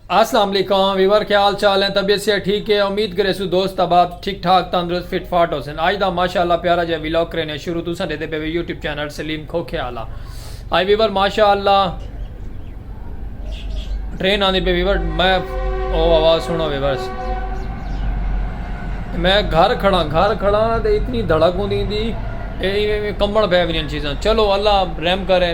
السلام علیکم ویور کیا حال چال ہیں طبیعت سے ٹھیک ہے امید کرے سو دوست احباب ٹھیک ٹھاک تندرست فٹ فاٹ ہو سن آج دا ماشاءاللہ پیارا جے ویلاگ کرینے شروع تو سن دے پے یوٹیوب چینل سلیم کھوکھے والا آئی ویور ماشاءاللہ ٹرین آندی پے ویور میں او آواز سنو ویور میں گھر کھڑا گھر کھڑا تے اتنی دھڑک ہوندی دی اے کمبل پے ونی چیزاں چلو اللہ رحم کرے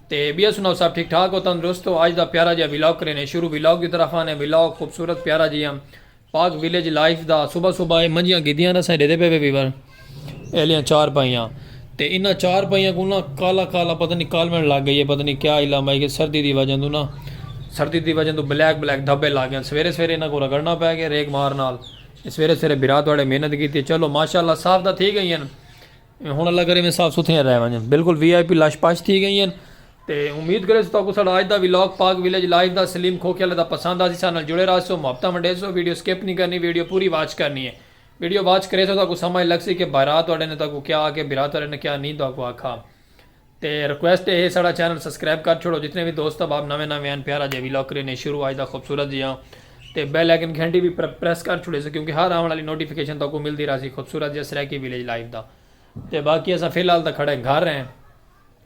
تے بیا سناؤ سب ٹھیک ٹھاک ہو تندرست ہو اج دا پیارا جیا ولاگ کرینے شروع ولاگ دی طرف آنے ولاگ خوبصورت پیارا جیا پاک ولیج لائف دا صبح صبح اے منجیاں گدیاں نہ سائیں ڈیدے پے پے ویور ایلیاں چار پائیاں تے انہاں چار پائیاں کو نہ کالا کالا پتہ نہیں کالوین لگ گئی ہے پتہ نہیں کیا علم ہے کہ سردی دی وجہ تو نہ سردی دی وجہ تو بلیک بلیک دھبے لگ گئے سویرے سویرے انہاں کو رگڑنا پے گئے ریک مار نال سویرے سویرے برا تواڈے محنت کیتی چلو ماشاءاللہ صاف دا تھی گئی ہیں ہن اللہ کرے میں صاف ستھریاں رہ ونجن بالکل وی آئی پی لش پش تھی گئی ہن تے امید کرے سو تاکو ساڑا اج دا ولاگ پاک ویلیج لائف دا سلیم کھوکھے والے دا پسند آسی ساڈے نال جڑے راہسو محبتاں ونڈیسو ویڈیو سکپ نی کرنی ویڈیو پوری واچ کرنی ہے ویڈیو واچ کریسو تاکو سمجھ لگسی کہ بھرا تہاڈے نے تاکو کیا آکھے بھرا تہاڈے نے کیا نی تہاکو آکھا تے ریکویسٹ اے ہے ساڑا چینل سبسکرائب کر چھوڑو جتنے وی دوست احباب نویں نویں ہن پیارا جیہا ویلاگ کرینے شروع اج دا خوبصورت جیہاں تے بیل آئیکن گھنٹی وی پریس کر چھوڑیسوں کیونکہ ہر آون آلی نوٹیفکیشن تہاکوں ملدی رہسی خوبصورت جیہاں سرائیکی ولیج لائف دا تے باقی اساں فی الحال تاں کھڑے گھر ہیں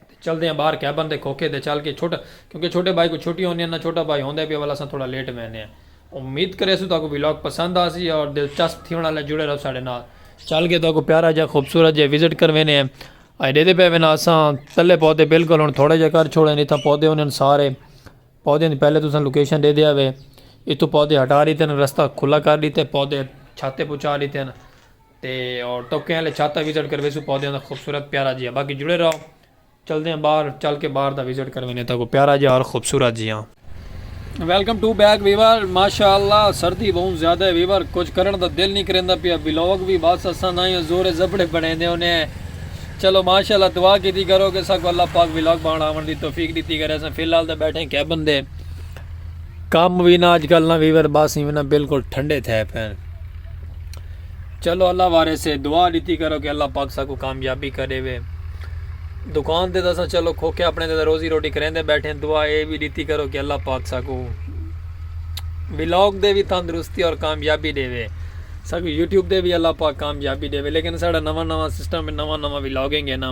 تے چلدے ہاں باہر کیبن دے کھوکھے تے چل کے چھوٹا کیونکہ چھوٹے بھائی کوں چھٹیاں ہوندیاں نہ چھوٹا بھائی ہوندے پیا ول اساں تھوڑا لیٹ ویندے ہیں امید کریسوں تہاکوں ویلاگ پسند آسی اور دلچسپ تھیونڑ آلا جڑے رہو ساڑے نال چل کے تہاکوں پیارا جیہاں خوبصورت جیہاں وزٹ کروینے ہیں اے ڈیدے پئے وینا اساں تلے پودے بالکل ہن تھوڑے جے کر چھوڑے اتھاں پودے انہن سارے پودے دی پہلے تساں لوکیشن دے دیا وے اتھو پودے ہٹا ڈیتے ہیں رستہ کھلا کر ڈیتے پودے چھاتے پچا ڈیتے ہیں تے اور ٹوکے والے چھاتا وزٹ کروے سو پودے دا خوبصورت پیارا جی باقی جڑے رہو چل دے ہیں باہر چل کے باہر دا وزٹ کروے نے تا کو پیارا جی اور خوبصورت جی ہاں ویلکم ٹو بیک ویور ماشاءاللہ سردی بہت زیادہ ہے ویور کچھ کرن دا دل نہیں کریندا پیا ولاگ بھی بس اساں نہ یا زور زبڑے بنیندے ہونے ہیں چلو ماشاءاللہ دعا کیتی کرو کہ ساکو اللہ پاک ولاگ بان آون دی توفیق دیتی کرے اساں فی الحال تے بیٹھے ہیں کیبن دے کام بھی نہ اج کل نہ ویور بس ہی نہ بالکل ٹھنڈے تھے پین چلو اللہ وارے سے دعا ڈتی کرو کہ اللہ پاک ساکوں کامیابی کرے وے دکان تے تساں چلو کھوکھے اپنے تے روزی روٹی کریندے بیٹھے دعا اے وی ڈتی کرو کہ اللہ پاک ساکوں ولاگ دے وی تندرستی اور کامیابی دے وے ساکوں یوٹیوب دے وی اللہ پاک کامیابی دے وے لیکن ساڑا نواں نواں سسٹم نواں نواں ولاگنگ ہے نا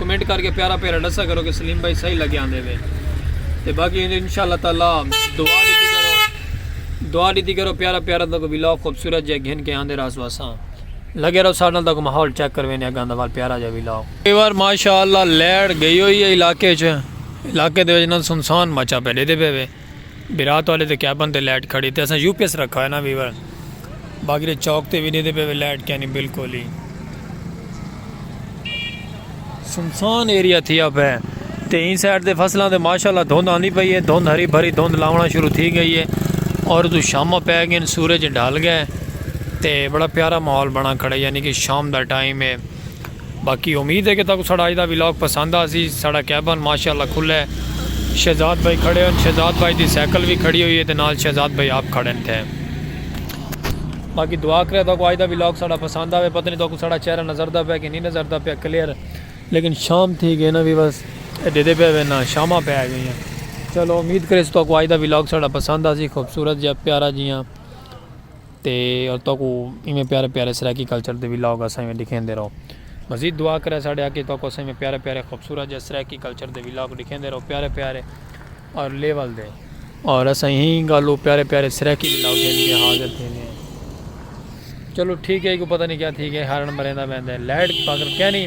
کمنٹ کر کے پیارا پیارا ڈسا کرو کہ سلیم بھائی صحیح لگے آندے وے تے باقی ان شاء اللہ تعالی دعا دیتی کرو دعا دیتی کرو پیارا پیارا تک ویلاگ خوبصورت جہ گھن کے آندے رہا سواساں لگے رہو سارے تک ماحول چیک کر وینے اگاں دوال پیارا جہ ویلاگ کئی بار ماشاء اللہ لیڑ گئی ہوئی ہے علاقے چ علاقے دے وچ نہ سنسان مچا پہ دے دے پہ وے برات والے دے کیبن تے لائٹ کھڑی تے اساں یو پی ایس رکھا ہویا نا ویور باقی دے چوک تے وی ڈیندے پے وے لائٹ کینی بالکل ہی سنسان ایریا تھیا پے تے این سائیڈ دے فصلاں دے ماشاءاللہ دھند آندی پئی ہے دھند ہری بھری دھند لاونا شروع تھی گئی ہے اور تو شامہ پے گئے سورج ڈھل گئے تے بڑا پیارا ماحول بنا کھڑے یعنی کہ شام دا ٹائم ہے باقی امید ہے کہ تہاکوں ساڈا اج دا ولاگ پسند آسی۔ ساڈا کیبن ماشاءاللہ کھلا ہے۔ شہزاد بھائی کھڑے ہن۔ شہزاد بھائی دی سائیکل وی کھڑی ہوئی ہے تے نال شہزاد بھائی آپ کھڑے ہن تھے۔ باقی دعا کریا تہاکوں اج دا ولاگ ساڈا پسند آوے۔ پتہ نی تہاکوں ساڈا چہرہ نظر دا پیا کہ نی نظر دا پیا کلیئر۔ لیکن شام تھی گئی نا ویورز۔ اے ڈیدھے پے ہوئے نا شاماں پے آ گئیاں۔ چلو امید کریس تہاکوں اج دا ولاگ ساڈا پسند آسی۔ خوبصورت جیا پیارا جیاں۔ تے تہاکوں ایویں پیارے پیارے سرائیکی کلچر دے ولاگ اساں ایویں ڈکھیندے رہوں مزید دعا کرے ساڈے آقی تہاکوں اساں ایویں پیارے پیارے خوبصورت جے سرائیکی کلچر دے ولاگ ڈکھیندے رہوں پیارے پیارے اور لیول دے اور اساں ایہی گالوں پیارے پیارے سرائیکی ولاگ دے لیے حاضر تھیندے ہیں چلو ٹھیک ہے ایکو پتہ نہیں کیا تھی گئے ہارن مریندا ویندے لائٹ پاکر کہنی